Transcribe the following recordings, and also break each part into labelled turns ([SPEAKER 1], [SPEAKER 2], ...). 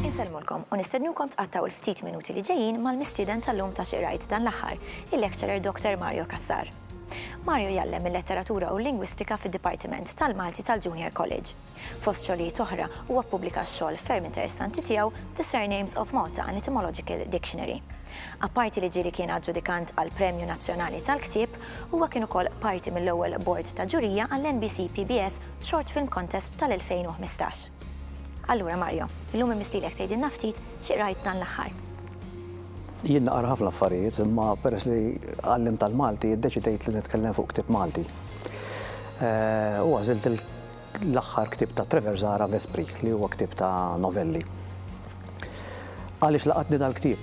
[SPEAKER 1] Insellmulkom u nistednukom tqattaw il-ftit minuti li ġejjin mal-mistieden tal-lum ta' Xi Qrajt dan l-Aħħar, il-Lecturer Dr. Mario Cassar. Mario jgħallem il-Letteratura u l-Lingwistika fid-Dipartiment tal-Malti tal-Junior College. Fost xogħlijiet oħra, huwa ppubblika x-xogħol ferm interessanti tiegħu The Surnames of Malta, An Etymological Dictionary. Apparti li ġieli kien aġġudikant għall-Premju Nazzjonali tal-Ktieb, huwa kien ukoll parti mill-ewwel bord ta' ġurija għall-NBC PBS Short Film Contest tal-2015. Allura Mario, illum immistlilek tgħidilna ftit xi qrajt dan l-aħħar.
[SPEAKER 2] Jien naqra ħafna affarijiet, imma peress li għallimt tal-Malti, iddeċidejt li nitkellem fuq ktieb Malti. U għażilt l-aħħar ktieb ta' Trevor Zahra Vespri li huwa ktieb ta' novelli. Għaliex laqatni dal-ktieb?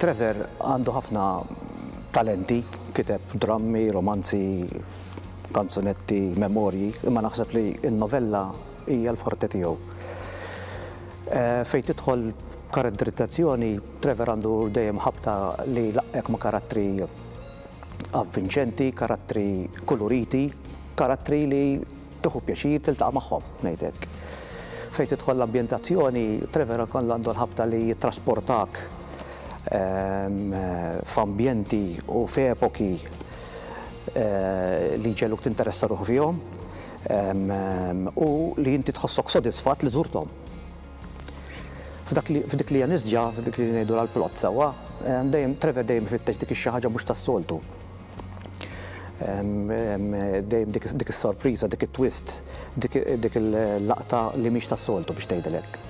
[SPEAKER 2] Trevor għandu ħafna talenti, kiteb drammi, romanzi, kanzunetti, memorji, imma naħseb li n-novella hija l-forte tiegħu. Fejn tidħol karatterizzazzjoni, Trevor għandu dejjem ħabta li jlaqqgħek ma' karattri avvinċenti, karattri kuluriti, karattri li tieħu pjaċir tiltaqa' magħhom, ngħid hekk. Fejn tidħol l-ambjentazzjoni, Trevor ukoll għandu l-ħabta li jittrasportak f'ambjenti u f'epoki li jġegħluk tinteressa ruħu fihom u li inti tħossok sodisfatt li żurthom. F'dak li, f'dik li hija nisġa, f'dik li ngħidu l-plot sewwa, dejjem, Trevor dejjem ifittex dik ix-xi ħaġa mhux tas-soltu. Dejjem dik, dik is-sorpriża, dik it-twist, dik, dik il-laqta li mhix tas-soltu biex tgħidil hekk.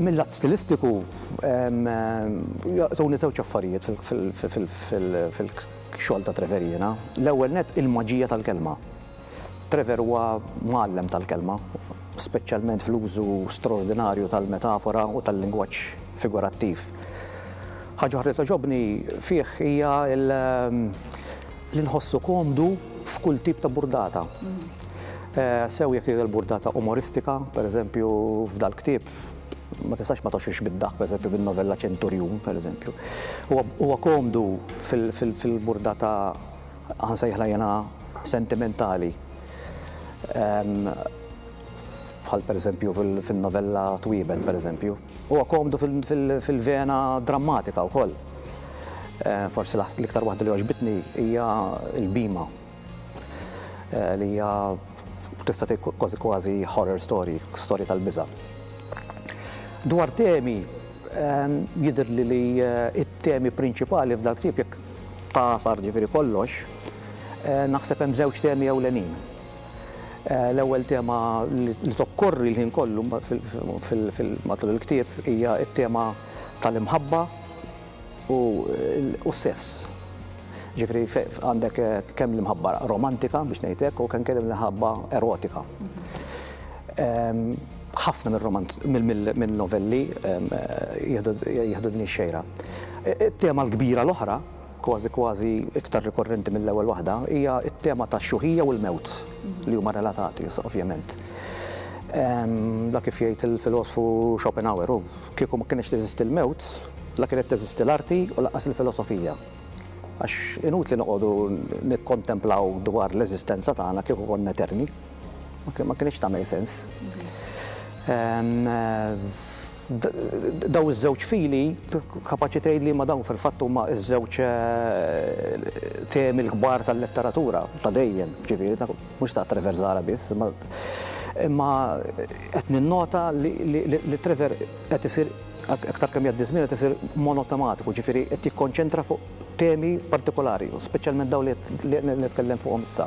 [SPEAKER 2] Mil-lat stilistiku, jolqtuni żewġ affarijiet fil-, fil-, fil-, fil-, xogħol ta' Trevor jiena. L-ewwel nett il-maġija tal-kelma. Trevor huwa mgħallem tal-kelma, speċjalment fl-użu straordinarju tal-metafora u tal-lingwaġġ figurattiv. Ħaġa oħra li togħġobni fih hija li nħossu komdu f'kull tip ta' burdata. Sew jekk hija l-burdata umoristika, pereżempju f'dal-ktieb ma tistax ma tgħoxxiex bid-daħk, pereżempju bin-novella Ċenturjun, pereżempju. Huwa komdu fil-burdata ħa nsejħilha jiena sentimentali, bħal pereżempju fin-novella Twiebet, pereżempju. Huwa komdu fil-vena drammatika wkoll. Forsi l-iktar waħda li għoġbitni hija l-bhima eh, li hija tista' kważi kważi horror story, storja tal-biża'. Dwar temi Jidhirli li t-temi prinċipali f'dal-ktieb, jekk tagħsar ġifieri kollox, naħseb hemm żewġ temi ewlenin. L-ewwel tema li tokkorri l-ħin kollu matul il-ktieb hija t-tema tal-imħabba u s-sess. Ġifieri għandek kemm l-imħabba romantika, biex ngħid hekk, u anke l-imħabba erotika. Ħafna mir-romanz, min-novelli jieħdu din ix-xejra. It-tema l-kbira l-oħra, kważi kważi iktar rikorrenti mill-ewwel waħda, hija t-tema tax-xuħija u l-mewt, li huma relatati, ovvjament. La kif jgħid il-filosfu Schopenhauer, hu, kieku ma kinitx teżisti l-mewt, la kienet teżisti l-arti u lanqas il-filosofija. Għax inutli noqogħdu nikkontemplaw dwar l-eżistenza tagħna kieku konna eterni. ma kinitx tagħmel sens. Daw iż-żewġ fili kapaċi tgħid li ma dawn fil-fatt huma ż-żewġ temi l-kbar tal-letteratura ta' dejjem, ġifieri ta' mhux ta' Trevor Zara biss, imma qed ninnota li Trevor qed isir aktar kemm jgħaddi ż-żmien qed isir monotematiku, ġifieri qed jikkonċentra fuq temi partikolari, speċjalment dawn li qed nitkellem fuqhom issa.